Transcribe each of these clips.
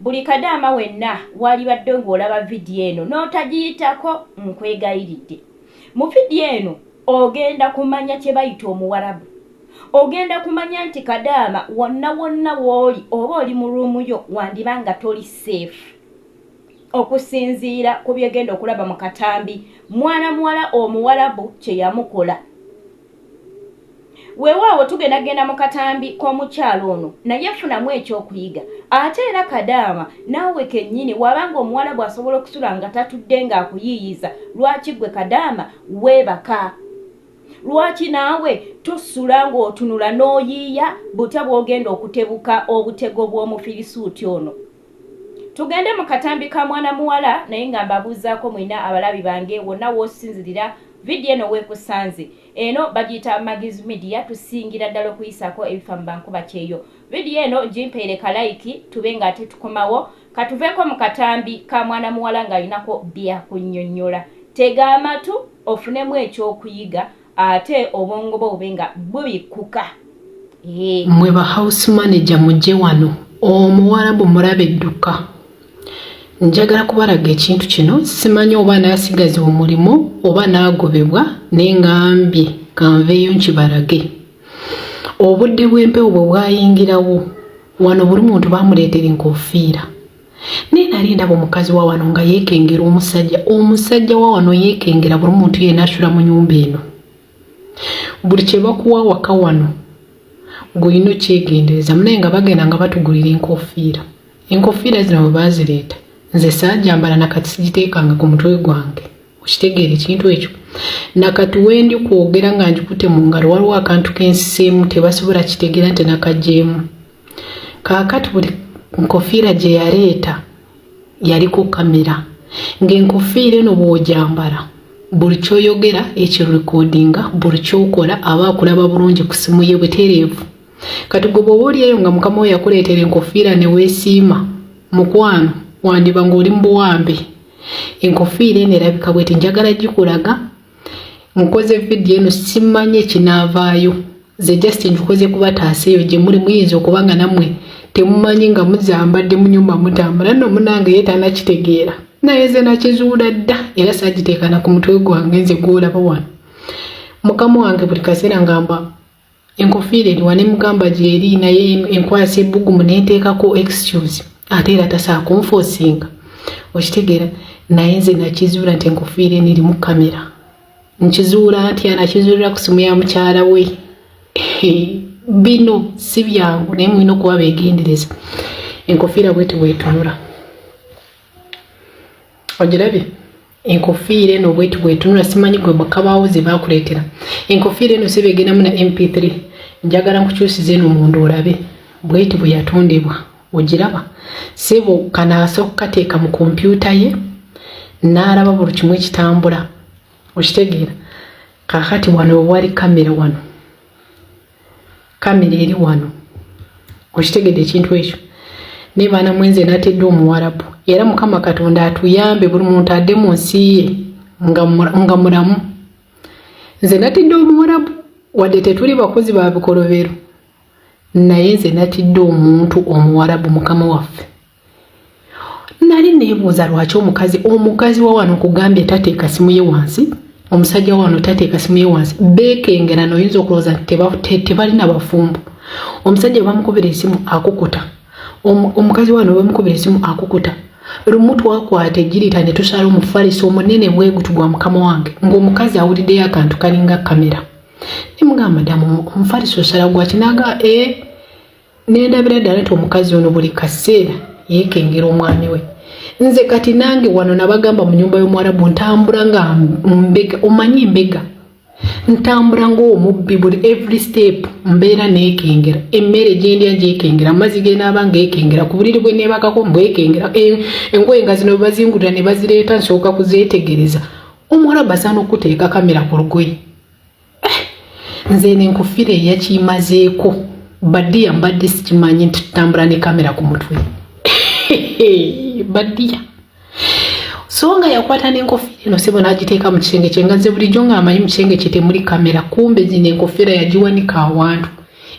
Buli kadaama wenna waalibadde ng'olaba vidiyo eno n'otagiyitako nkwegayiridde. Mu vidiyo eno ogenda kumanya kye bayita Omuwarabu. Ogenda kumanya nti kadaama wonna wonna w'oli oba oli mu ruumu yo wandiba nga toli seefu. Okusinziira ku by'ogenda okulaba mu katambi mwana muwala Omuwarabu kye yamukola. Weewaawo tugenda genda mu katambi k'omukyala ono naye funamu ekyokuyiga. Ate era kadaama naawe kennyini waba nga omuwalabu asobola okusula nga tatudde nga akuyiiyiza lwaki gwe kadaama weebaka? Lwaki naawe tosula ng'otunula n'oyiiya butya bwogenda okutebuka obutego bw'omufirisuuti ono? Tugende mu katambi ka mwana muwala naye nga mbabuuzaako mwena abalabi bange wonna w'osinzirira video eno w'ekusanze. Eno bagiyita Maggie's Media tusingira ddala okuyisaako ebifa mu bankuba kyeyo. Video eno gimpeere ka like tube nga ate tukomawo katuveeko mu katambi ka mwana muwala ng'alinako byakunnyonnyola. Tega amatu ofunemu eky'okuyiga ate obwongo bwo bube nga bubikkuka eh. mwe ba house manager mujje wano omuwarabu mulabe dduka njagala kubalaga ekintu kino simanyi oba naasigaza omulimu oba naagobebwa naye ngambye kanveeyo nkibalage obudde bw'empewo bwe bwayingirawo wano buli muntu baamuleetera enkofiira naye nali ndaba omukazi wa wano nga yeekengera omusajja omusajja wa wano yeekengera buli muntu yena asula mu nyumba eno buli kye bakuwa waka wano ng'olina okyegendereza munaye nga bagenda nga batugulira enkofiira enkofiira zino bwe baazireeta nze saajambala nakati sigiteekanga ku mutwe gwange okitegeera ekintu ekyo nakati wendi kwogera nga ngikute mu ngalo waliwo akantu kensiseemu tebasobola kitegera nti nakajeemu kaakati buli nkofiira gye yaleeta yaliko kamera ng'enkofiira eno bw'ogyambala buli kyoyogera ekirikodinga buli kyokola aba akulaba bulungi ku simu ye butereevu kati gwe bwoba oli eyo nga mukama we yakuleetera enkofiira ne weesiima mukwano wandiba ng'oli mu buwambe enkofiira eno erabika bweti njagala gikulaga nkoze vidiyo eno simanyi ekinaavaayo ze just nkoze kubataasa eyo gye muli muyinza okuba nga nammwe temumanyi nga muzambadde mu nyumba mutambula nno munange ye tanakitegeera naye ze nakizuula dda era sagiteekana ku mutwe gwange nze gwolaba wano mukama wange buli kaseera ngamba enkofiira eriwa ne mugamba gyeri naye enkwasa ebbugumu ne nteekako excuse ate era tasaakunfoosinga okitegeera naye nze nakizuula nti enkofiira eno erimu kamera nkizuula nti anakizuulira ku simu ya mukyala we bino si byangu naye mulina okuba beegendereza enkofiira bweti bwetunula ogirabye enkofiira eno bweti bwetunula simanyi gwe bakabaawo ze baakuleetera enkofiira eno sebe egendamu na mp3 njagala nkukyusiza eno munda olabe bweti bwe yatondebwa ogiraba sebo kanaasa okukateeka mu kompyuta ye n'alaba buli kimu ekitambula okitegeera kakati wano wewali kamera wano kamera eri wano okitegedde ekintu ekyo naye baana mwenze natedde omuwarabu era mukama katonda atuyambe buli muntu adde mu nsi ye nga mulamu nze natidde omuwarabu wadde tetuli bakozi ba bikolobero naye nze natidde omuntu omuwarabu mukama waffe nali nebuuza lwaki omukazi omukazi wa wano kugambye tateeka simu ye wansi omusajja wa wano tateeka simu ye wansi beekengera noyinza okulowooza nti tebalina bafumbo omusajja bamukubira esimu akukuta omukazi wano bamukubira esimu akukuta lumu twakwata ejirita ne tusala omufalisi omunene bwegutu gwa mukama wange ng'omukazi awuliddeyo akantu kalinga kamera nemugamba madamu omufalisi osala gwaki naga e eh, nendabira ddala nti omukazi ono buli kaseera yekengera omwami we nze kati nange wano nabagamba mu nyumba y'omuwarabu ntambula nga mbega omanyi mbega ntambula ngaomubbi buli every step mbeera nekengera emmere gyendya gyekengera amazzi genaaba ngaekengera ku buliri bwe nebakako mbwekengera engoye nga zino bebazingulira ne bazireeta nsooka kuzeetegereza omuwarabu asaana okuteeka kamera ku lugoye nze eno enkufira eyakimazeeko badiya mbadde sikimanyi nti tutambula ne kamera ku mutwe badiya so nga yakwata n'enkofira eno sebo n'agiteeka mu kisenge kye nga ze bulijjo ng'amanyi mu kisenge kye temuli kamera kumbe zino enkofira yagiwanika awantu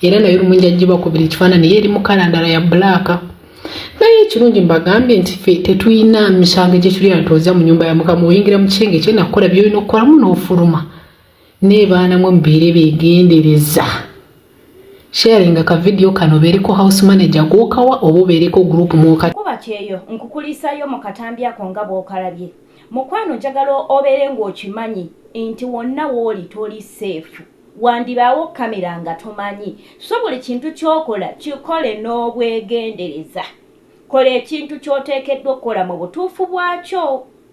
era naye olumungi agibakubira ekifaanani ye eri mu kala ndala ya bulaaka naye ekirungi mbagambye nti fe tetulina misango gye tuli antooza mu nyumba ya mukama oyingira mu kisenge kye nakukola byolina okukolamu n'ofuluma naye baana mwe mubeere begendereza sharinga ka video kano obeereko house manager gwokawa oba obeereko group mwoka kuba kyeyo nkukulisayo mu katambi ako nga bwokalabye mukwano njagala obeere ng'okimanyi nti wonna wooli toli seefu wandibaawo kamera nga tomanyi so buli kintu kyokola kikole n'obwegendereza kola ekintu kyoteekeddwa okukola mu butuufu bwakyo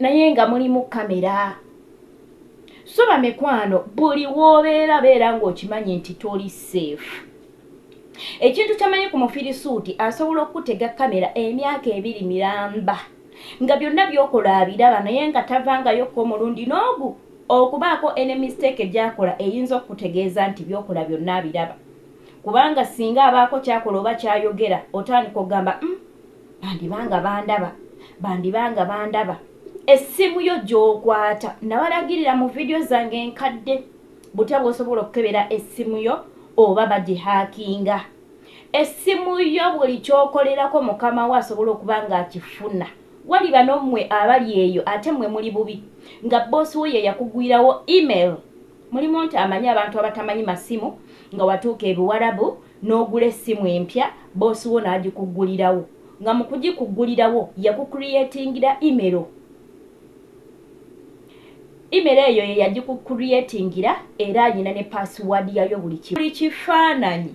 naye nga mulimu kamera so bamikwano buli wobeera beera ngaokimanyi nti toli safe ekintu kyamanyi ku mufirisuuti asobola okukutega kamera emyaka ebiri miramba nga byonna byokola abiraba naye nga tavangayokka omulundi n'ogu okubaako ene mistake gyakola eyinza okukutegeeza nti byokola byonna abiraba kubanga singa abaako kyakola oba kyayogera otandika okugamba mm, Bandiba nga bandaba, bandiba nga bandaba. Essimu yo gy'okwata. Nabalagirira mu vidiyo zange enkadde butya bw'osobola okukebera essimu yo oba bagihaakinga. Essimu yo buli ky'okolerako mukama wo asobola okuba ng'akifuna. Waliba n'ommwe abali eyo ate mmwe muli bubi nga bboosi wo ye yakugwirawo email. Mulimu nti amanyi abantu abatamanyi masimu nga watuuka Ebiwarabu n'ogula essimu empya boss wo n'agikuggulirawo nga mu kugikuggulirawo yaku creatingira imero, imero eyo ye yagiku creatingira era alina ne password yayo buli kimu. Buli kifaananyi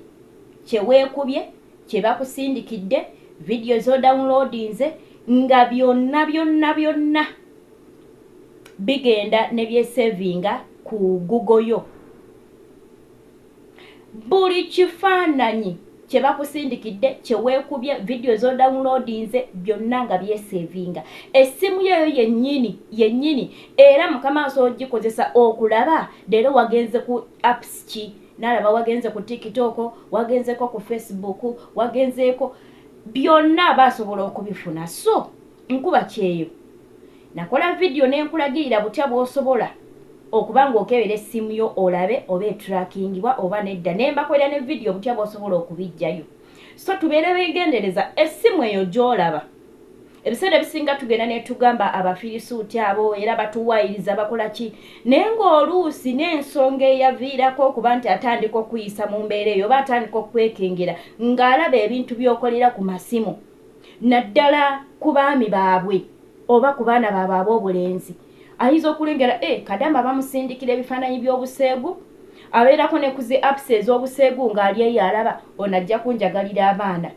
kye weekubye, kye bakusindikidde, video z'odownloadinze nga byonna byonna byonna bigenda ne byesevinga ku Google yo. Buli kifaananyi kye bakusindikidde, kye weekubye, vidiyo z'odawunloodinze byonna nga byeseevinga. Essimu yo eyo yennyini yennyini era mukama asobola okugikozesa okulaba leero wagenze ku apps ki n'alaba wagenze ku tiktok, wagenzeeko ku facebook, wagenzeeko byonna aba asobola okubifuna so nkuba kyeyo. Nakola vidiyo ne nkulagirira butya bw'osobola okuba ng'okebera essimu yo olabe oba etrakingibwa oba nedda ne mbakolera ne vidiyo butya bw'osobola okubiggyayo. So tubeere beegendereza, essimu eyo gy'olaba ebiseera ebisinga tugenda ne tugamba Abafirisuuti abo era batuwaayiriza bakola ki, naye ng'oluusi n'ensonga eyaviirako okuba nti atandika okukuyisa mu mbeera eyo oba atandika okukwekengera ng'alaba ebintu by'okolera ku masimu. naddala ku baami baabwe oba ku baana baabwe ab'obulenzi. Ayinza okulengera e Kadama bamusindikira ebifaananyi by'obuseegu. Abeerako ne ku zi apps ez'obuseegu ng'ali eyo alaba ono ajja kunjagalira abaana.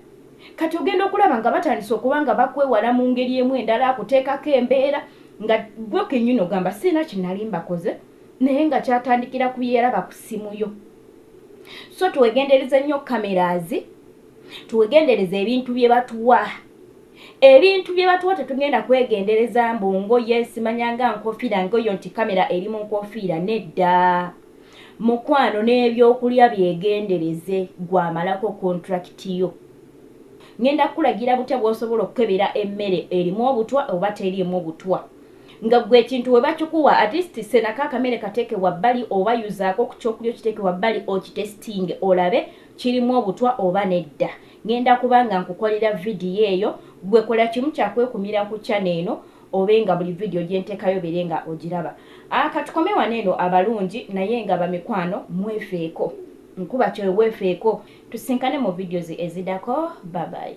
Kati ogenda okulaba nga batandise okuba nga bakwewala mu ngeri emu endala akuteekako embeera nga ggwe kennyini ogamba sirina kye nali mbakoze naye nga kyatandikira ku bye yalaba ku ssimu yo. So twegendereze nnyo cameras tuwegendereza ebintu bye batuwa ebintu bye batuwa tetugenda kwegendereza mbu ngoye simanyanga nkofiira ngoyo nti kamera eri mu nkofiira nedda mukwano n'ebyokulya byegendereze gwamalako kontulakiti yo ngenda kukulagira butya bw'osobola okukebera emmere erimu obutwa oba teriimu obutwa nga gwe ekintu we bakikuwa atisti senako akamere kateeke wabbali oba yuzaako ku kyokulya okiteeke wabbali okitesitinge olabe kirimu obutwa oba nedda ngenda kuba nga nkukolera video eyo gwe kola kimu kyakwekumira ku channel eno obe nga buli video gyentekayo obere nga ogiraba a katukome wano eno abalungi naye nga bamikwano mwefeeko nkuba kyoyo wefeeko tusinkane mu videos ezidako babayi